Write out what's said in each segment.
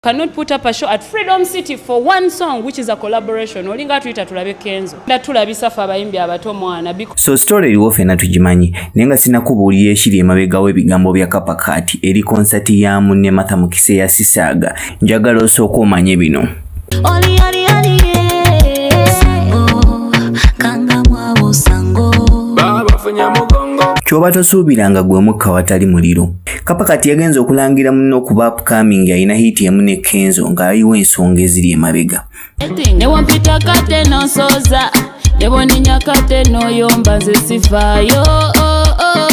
cannot put up a show at Freedom City for one song which is a collaboration olinga tuyita tulabe kenzo nda tulabisa fa abayimbi abato mwana so story eriwo fena tugimanyi naye nga sinakubuulira ekiri emabegawo ebigambo bya kapa kati eri konsati ya munne matha mukise ya sisaaga njagala osooka omanye bino oli, oli, oli, yeah. oh, kanga mwabusango baba funya mugongo kyoba tosuubiranga gwe mukka watali muliro Kapa kati yagenze okulangira munne okuba upcoming alina hiiti emu ne Kenzo ng'ayiwa ensonga eziri emabega. Newampita kate n'osoza neboninya kate n'oyomba nze sivaayo oh, oh,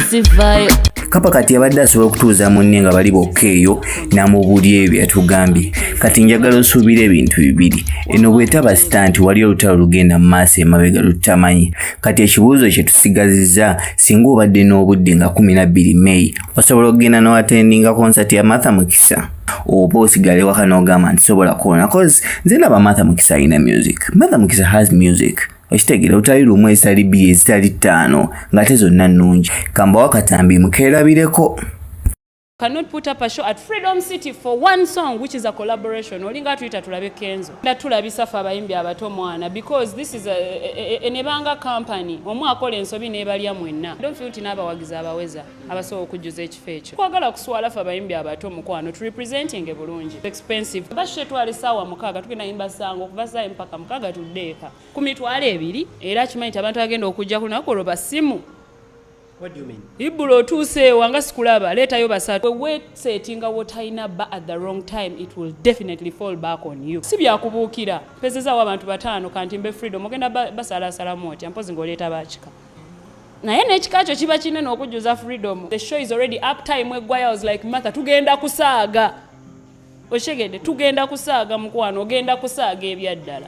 sivaayo kapa kati yabadde asobola okutuuza munne nga bali bokka eyo namubuli ebyo byatugambye kati njagala osuubira ebintu bibiri eno bwetaba sita nti wali olutalo lugenda mu maaso emabega lutamanyi kati ekibuuzo kyetusigaziza Singa obadde n'obudde nga 12 May, osobola okugenda n'oatendinga konsati ya Martha Mukisa oba osigale waka n'ogamba nti sobola kuwona cause nze ndaba Martha Mukisa alina music. Martha Mukisa has music. Okitegere otali lumu ezitali bbiri ezitali ttaano ng'ate zonna nnungi. Kambawo akatambi mukeerabireko. cannot put up a show at Freedom City for one song which is a collaboration olinga tuyita tulabe kenzo nda tulabisa fe abayimbi abato mwana because this is enebanga company omu akola ensobi nebalya mwenna don't feel nti n'abawagizi abaweza abasobola okujjuza ekifo ekyo kwagala kuswala fe abayimbi abato mukwano to representing ebulungi expensive bashe twali sawa mukaga tugenda yimba sango kuva saa mpaka mukaga tuddeeka ku mitwalo ebiri era akimanyi nti abantu agenda okujja kunaku olwo basimu ibula otuuse ewa nga sikulaba leetayo basatu wewesetinga wotalina ba at the wrong time it will definitely fall back on you si byakubuukira mpezezaawo abantu bataano kanti mbe freedom ogenda basalaasalamu otya mpozi ngaoleeta bakika naye n'ekika kyo kiba kinene okujjuza freedom the show is already up time eggwayo was like matha tugenda kusaaga okitegedde tugenda kusaaga mukwano ogenda kusaaga ebyaddala